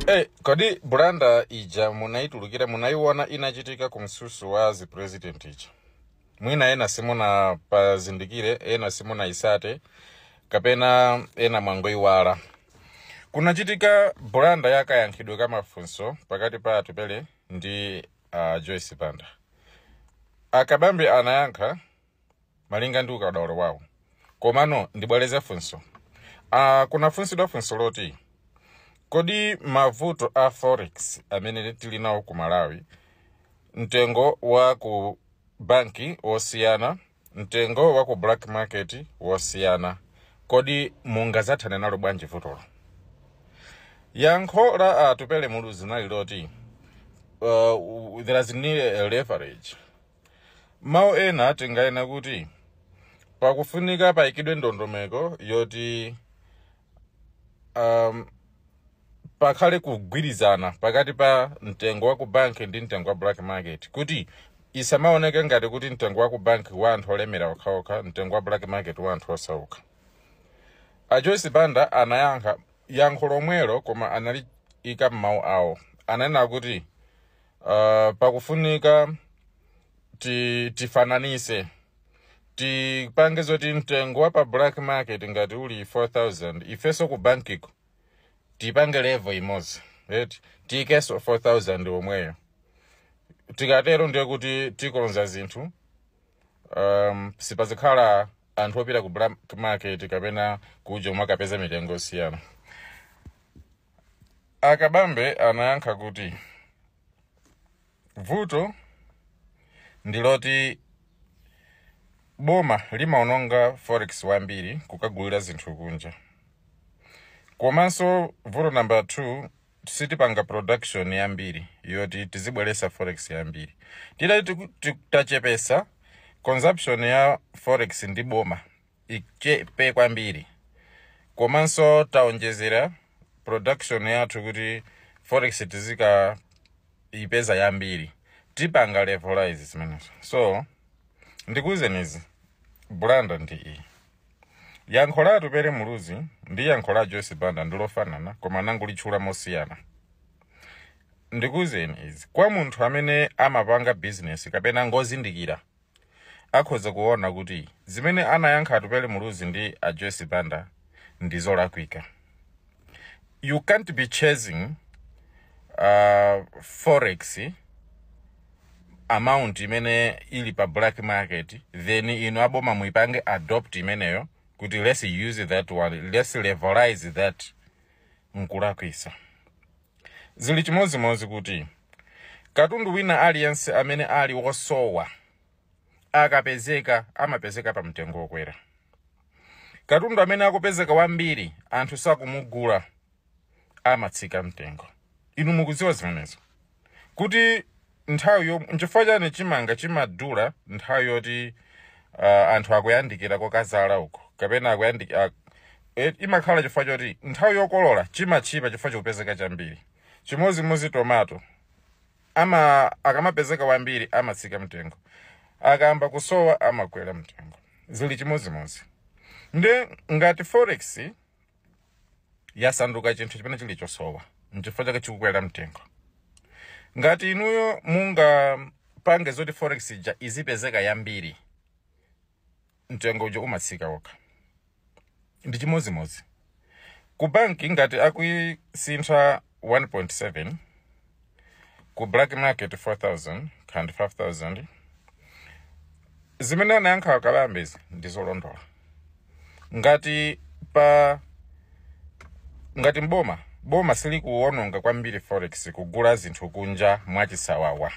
Hey, kodi blunder ija munaitulukira munaiona inachitika ku mtsutso wa zipresident ija mwina ena simunapazindikire ena simunaitsate kapena ena mwangoiwala kunachitika blunder ya kayankhidwe ka mafunso pakati pa Atupele ndi uh, Joyce Banda a Kabambe anayankha malinga ndi ukadaulo wawo komano ndibwereze funso ah, kunafunsidwa funso loti kodi mavuto a forex amene tili nawo ku Malawi mtengo wa ku banki wosiyana mtengo wa ku black market wosiyana kodi mungazathane nalo bwanji vutolo yankho la Atupele Muluzi nali loti uh, there is need a leverage M'mawu ena tinganene kuti pakufunika paikidwe ndondomeko yoti um, pakhale kugwirizana pakati pa mtengo wa ku bank ndi mtengo wa black market kuti isamaoneke ngati kuti mtengo wa ku bank wa anthu olemera okhaokha mtengo wa black market wa anthu osauka a Joyce Banda anayankha yankho lomwelo koma analiika m'mawu awo ananena kuti uh, pakufunika ti, tifananise tipange zoti mtengo wa pa black market ngati uli 4000 ifenso ku bankiko tipange level imodzi right tiikenso 4000 omweyo tikatero ndiye kuti tikonza zinthu um, sipazikhala anthu opita ku black market kapena kuja umakapeza mitengo osiyana A Kabambe anayankha kuti, Vuto ndi loti boma limaononga forex wambiri kukagulira zinthu kunja. Komanso vuto number 2 sitipanga production yambiri yoti tizibweretsa forex yambiri. Titati tiku- ti- tachepetsa consumption ya forex ndi boma ichepe kwambiri komanso taonjezera production yathu kuti forex tizikaipeza yambiri tipanga levelize zimenezo so ndikuwuzeni izi blunder ndi iyi yankho la Atupele Muluzi ndi yankho la Joyce Banda ndilofanana koma anangolitchula mosiyana ndikuwuzeni izi kwa munthu amene amapanga bizinesi kapena ngozindikira akhoza kuona kuti zimene anayankha Atupele Muluzi ndi a Joyce Banda ndi zolakwika. You can't be chasing uh, forex amount imene ili pa black market then inu aboma muipange adopt imeneyo kuti let's use that one let's levelize that nkulakwisa. Zili chimodzimodzi kuti katundu wina aliyense amene ali wosowa akapezeka amapezeka pa mtengo wokwera. Katundu amene akupezeka wambiri anthu sakumugula amatsika mtengo. Inu mukudziwa zimenezo. kuti nthawi yo nchifukwa chani chimanga chimadula nthawi yoti uh, anthu akuyandikira kokadzala uko kapena akuyandikira e, imakhala chifukwa choti nthawi yokolola chimatchipa chifukwa chikupezeka chambiri chimodzimodzi tomato ama akamapezeka wambiri amatsika mtengo akayamba kusowa amakwera mtengo zili chimodzimodzi nde ngati forex yasanduka chinthu chimene chili chosowa nchifukwa chake chikukwera mtengo ngati inuyo mungapange zoti forex ija izipezeka yambiri mtengo uja umatsika wokha ndi chimodzimodzi ku bank ngati akuisintha 1.7 ku black market 4000 kaya ndi 5000 zimene anayankha a Kabambezi ndi zolondola ngati pa ngati mboma boma silikuwononga kwambiri forex kugula zinthu kunja mwachisawawa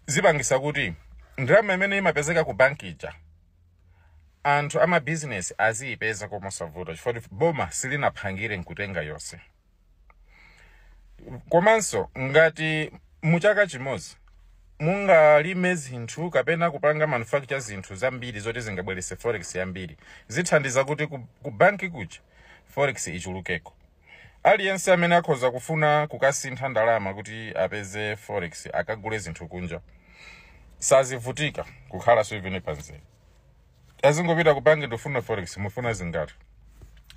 zipangitsa kuti ndalama imene imapezeka ku banki ija anthu amabizinesi aziyipeza mosavuta chifukwa boma silinaphangire nkutenga yonse komanso ngati mu chaka chimodzi mungalime zinthu kapena kupanga manufacture zinthu zambiri zoti zingabweretse forex yambiri zithandiza kuti ku, ku banki kuja forex ichulukeko aliyense amene akhoza kufuna kukasintha ndalama kuti apeze forex akagule zinthu kunja sazivutika kukhala three weeks pamzere azingopita ku banki ndifuna forex mufuna zingati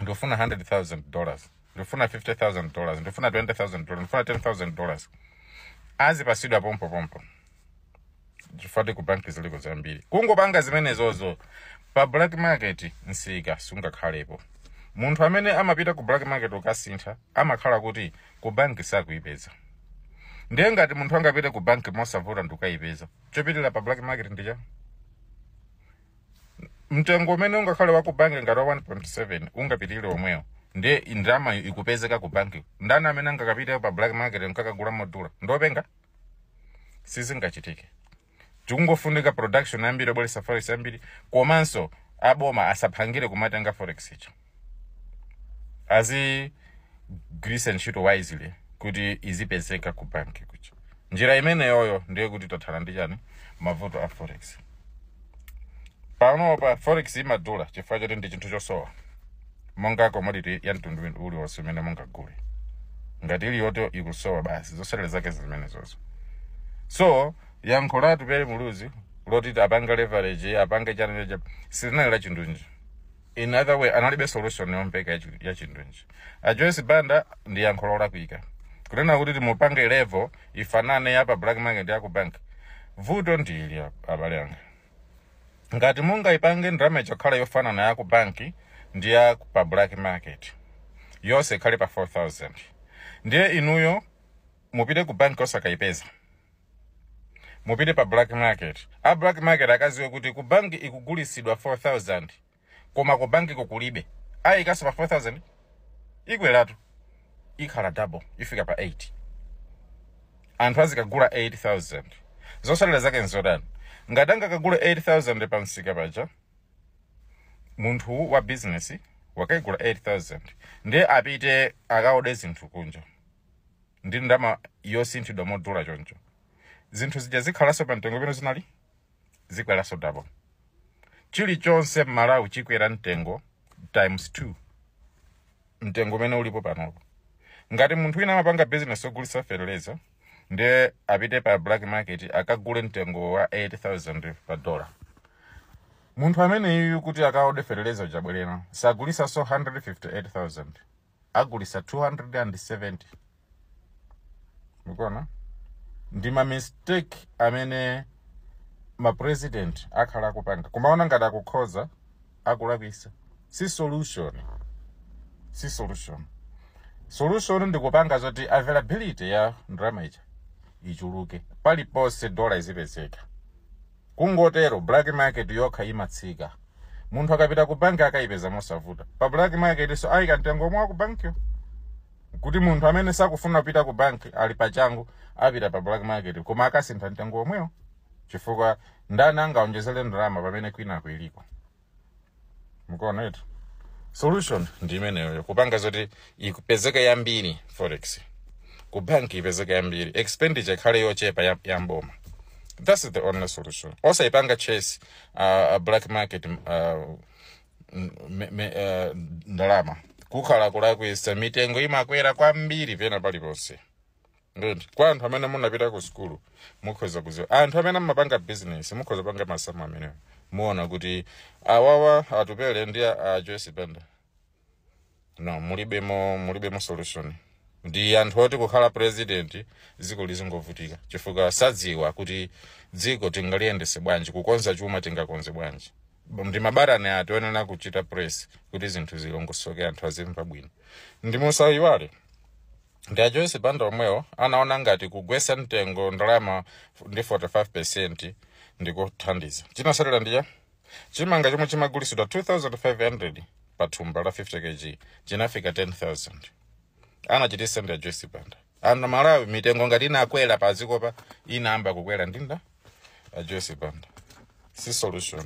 ndifuna 100000 dollars ndifuna 50000 dollars ndifuna 20000 dollars ndifuna 10000 dollars azipatsidwa pompo pompo chifukwa ku banki ziliko zambiri kungopanga zimenezozo pa black market msika sungakhalepo munthu amene amapita ku black market ukasintha amakhala kuti ku banki sakuyipeza ndiye ngati munthu angapite ku banki mosavuta ndikukayipeza chopitira pa black market ndicha mtengo umene ungakhale wa ku banki ngati wa 1.7 ungapitirire omwewo ndiye ndalama ikupezeka ku banki ndani amene angakapite pa black market nkakagula modula ndiopenga sizingachitike chikungofunika production yambiri yobweretsa forex yambiri komanso aboma asaphangire kumatenga forex ija azigwiritsa ntchito wisely kuti izipezeka ku banki kuja njira imeneyoyo ndiye kuti tathana ndi chani mavuto a forex panopa forex imadula chifukwa choti ndi chinthu chosowa monga commodity ya mtundu win- uliwonse umene mungagule ngati iliyoto ikusowa basi zotsatira zake zimenezozo so yankho la Atupele Muluzi loti apange leverage apange chani cha silinali la chindunji in other way analibe solution yomveka ya chi- ya chindunji a joyce banda ndiye yankho lolakwika kunena kuti mupange level ifanane ya pa black market ya ku bank vuto ndili ab- abale anga ngati mungayipange ndalama ija kukhala yofanana ya ku bank ndi ya ku- pa black market yonse ikhale pa 4000 ndiye inuyo mupite ku banki osakayipeza mupite pa black market a black market akadziwe kuti ku banki ikugulitsidwa 4000 koma ku bankiko kulibe ayikanso pa 4000 ikweratu ikhala double ifika pa 8 anthu azikagula 8000 zotsatira zake n'zotani ngati angakagule 8000 pa msika paja munthu wa bizinesi wakaigula 8000 ndiye apite akaode zinthu kunja ndi ndalama yosinthidwa modula choncho zinthu zija zikhalanso pa mtengo pamene zinali zikweranso double chilichonse m'malawi chikwera mtengo times 2 mtengo umene ulipo panopo ngati munthu wina amapanga business ogulitsa fertilizer ndiye apite pa black market akagule mtengo wa 8000 pa dollar munthu ameneyu kuti akaode fertilizer uja pobwerera sagulitsanso 158000 agulitsa 270 mukuona ndi ma mistake amene ma president akhala akupanga kumaona ngati akukhoza akulakwitsa si solution si solution solution ndi kupanga zoti availability ya ndalama ija ichuluke paliponse dola izipezeka Kungotero black market yokha imatsika. Munthu akapita ku banki akaipeza mosavuta. Pa black market nso aika mtengo omwe wa ku bankiyo. Kuti munthu amene sakufuna kupita ku banki ali pachangu apita pa black market koma akasintha mtengo omwewo chifukwa ndani angaonjezere ndalama pamene kwina kuli iliko. mukuona etu solution ndi imeneyoyo kupanga zoti ipezeka yambiri forex ku bank ipezeka yambiri expenditure ikhale yochepa ya, ya m'boma that's the only solution osayipanga chase uh, black market uh, me, me, uh, ndalama kukhala kulakwitsa mitengo imakwera kwambiri pena paliponse ndiyeti kwa anthu amene munapita ku sukulu mukhoza kuziwa anthu amene amapanga business mukhoza panga masamu amenewo muona kuti awawa atupele ndi a a joyce banda no mulibemo mulibemo solution ndi anthu oti kukhala president dziko lizingovutika chifukwa sadziwa kuti dziko tingaliyendese bwanji kukonza chuma tingakonze bwanji ndi mabalani oti onena kuchita press kuti zinthu zilongosoke anthu azimva bwino ndi musayiwale ndi a joyce banda omwewo anaona ngati kugwetsa mtengo ndalama ndi 45 percent ndikuthandiza chinatsatira ndi cha chimanga chomwe chimagulitsidwa 2500 pa thumba la 50 kg chinafika 10000 anachititsa ndi a joyce banda aMalawi mitengo ngati inakwera pa dziko pano inayamba kukwera ndi a joyce banda si solution